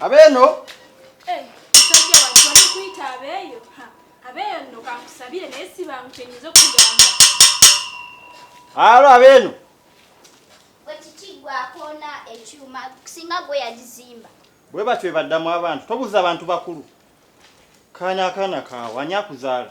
abeeno eh, alo abeeno bwe batyo ebaddamu abantu tobuza abantu bakulu kaana akaana kaawe ani akuzaala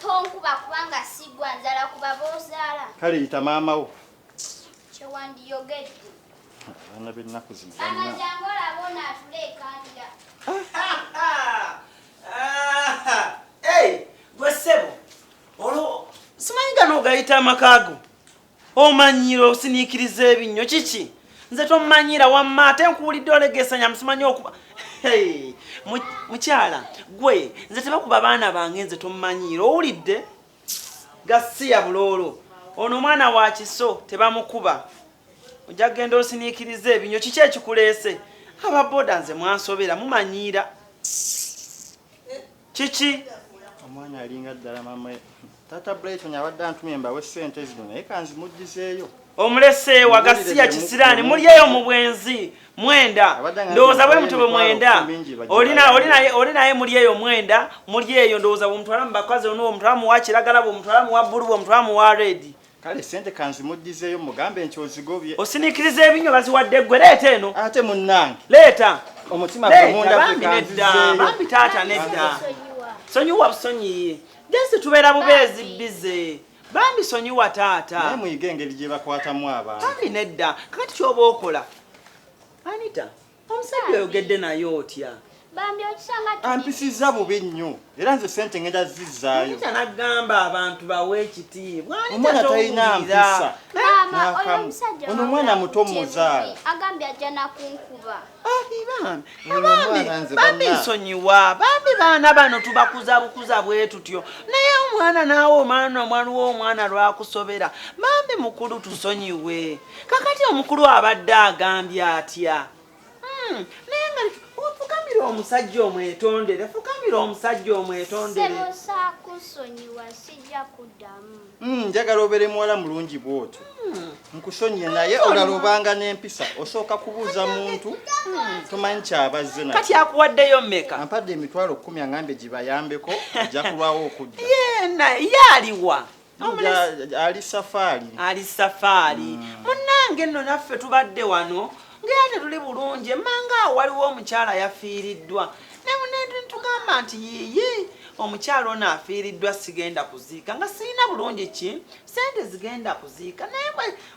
Tonkuba kubanga sigwa nzala kuba bozaala. Kale yita maama wo. Kyewandiyogedde. Abaana b'ennaku zino. Maama jangu olaba ono atula ekandira. Gwe ssebo olwo simanyi gano ogayita amaka go. omanyira osiniikiriza ebinnyo kiki nze tomanyira wamma ate nkuwulidde olegesanya musimanyi okuba mukyala gwe nze tebakuba baana bange nze tomanyiira owulidde gasiya buloolo ono omwana wa kiso tebamukuba ojja kugenda osiniikiriza ebinnyo kiki ekikuleese ababoda nze mwansobera mumanyiira Kiki? Omwana alinga ddala mama. Tata Brighton abadde antumye mbawe ssente zino naye kanzimujjizeeyo. Omulese wa gasiya kisiraani mulyeyo mu bwenzi mwenda ndowooza bwe mutube mwenda oli naye mulyeyo mwenda mulyeyo ndowooza bwomutwala mu bakazi onuwo mutwala muwa kiragala bwomutwala muwa bbulu bwomutwala muwa redi kale sente kanzimuddizeeyo mugambe nti ozigobye osiniikiriza ebinywa baziwadde ggwe leeta eno ate munnange leeta omutima gwemundabambi nedda bambi taata nedda sonyiwa busonyiye jasi tubeera bubeezi bize bambi sonyiwa taata naye muyige engeri gye bakwatamu abantu bambi nedda kakati kyoba okola anita omusajja oyogedde naye otya bambi okisanga ampisizza bubi nnyo era nze sente ngenda zizzaayo kyanagamba abantu bawe ekitiibwa omwana talina mpisa ono omwana muto muzaala agambye ajja nakunkuba bambi nsonyiwa bambi baana bano tubakuza bukuza bwe tutyo naye omwana naawe omwana omwana w'omwana lwakusobera bambi mukulu tusonyiwe kakati omukulu abadde agambye atya hmm, naye nga fukamira omusajja omwetondere fukamira omusajja omwetondere hmm, njagala obere muwala mulungi bwotyo hmm. nkusonyiye naye olalobanga n'empisa osooka kubuuza muntu tomanyi kyabazze nakati akuwaddeyo meka ampadde emitwalo kkumi angambye gibayambeko ajja kulwawo okudda ye aliwa ali safaali ali safaali mm. munnange nno naffe tubadde wano ngaera tetuli bulungi emmanga awo waliwo omukyala yafiiriddwa naye munetugamba nti yiyi omukyala ono afiiriddwa sigenda kuziika nga sirina bulungi ki sente zigenda kuziika naye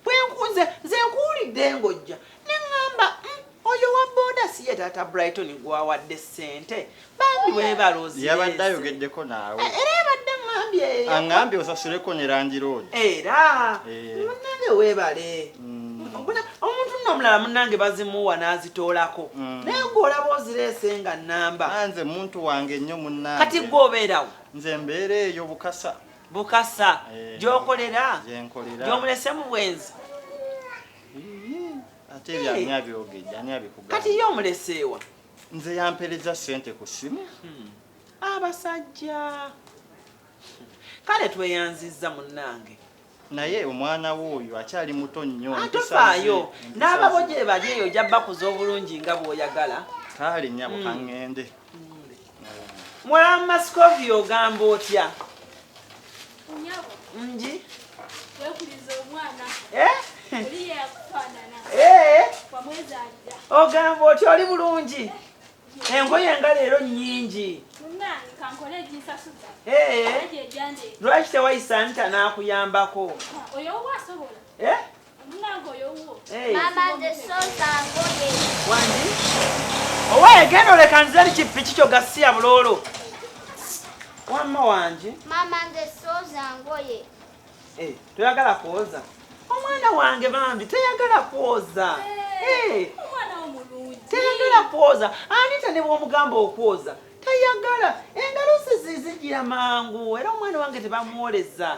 bwenkunze nze nkuwulidde ngojja Neŋŋamba, mm, oyo wa boda si ye taata Brighton gw'awadde ssente? Bambi weebale ozireese. Yabadde ayogeddeko naawe. Eh, era yabadde aŋŋambye eyo. Aŋŋambye osasuleko ne landiroodi. Era Eh. munnange weebale. Mbona omuntu nno omulala munnange bazimuwa n'azitoolako Mm. naye gwe olaba ozireese nga nnamba. Ah, Nze muntu wange nnyo munnange. Kati gwe obeerawo Nze mbeera eyo Bukasa. Bukasa Eh. gy'okolera Gye nkolera. gy'omulese mu bwenzi. ate ebyo ani abyogedde ani abikugamba kati ye omuleseewa nze yampereza sente ku simu hmm. abasajja kale tweyanzizza munnange naye omwana we oyo akyali muto nnyo atofaayo n'ababo gye bali eyo ojja bakuza obulungi nga bw'oyagala kale nyabo hmm. kangende hmm. Mulamu Mascovia ogamba otya? Nji. Wekuliza omwana. Eh? Oliye yakufanana. Eh? Kwa mwezi aja. Ogamba otya oli bulungi? Eh. engoye nga leero nyingi lwaki tewayisa nta nakuyambako owaye genda oleka nze li kipiki kyo gasiya bulolo wamma wange eh, toyagala kwoza omwana wange bambi teyagala kwoza eh, eh, teyagala kwoza anita ne bwomugamba okwoza tayagala engalusi zizijira mangu era omwana wange tebamwoleza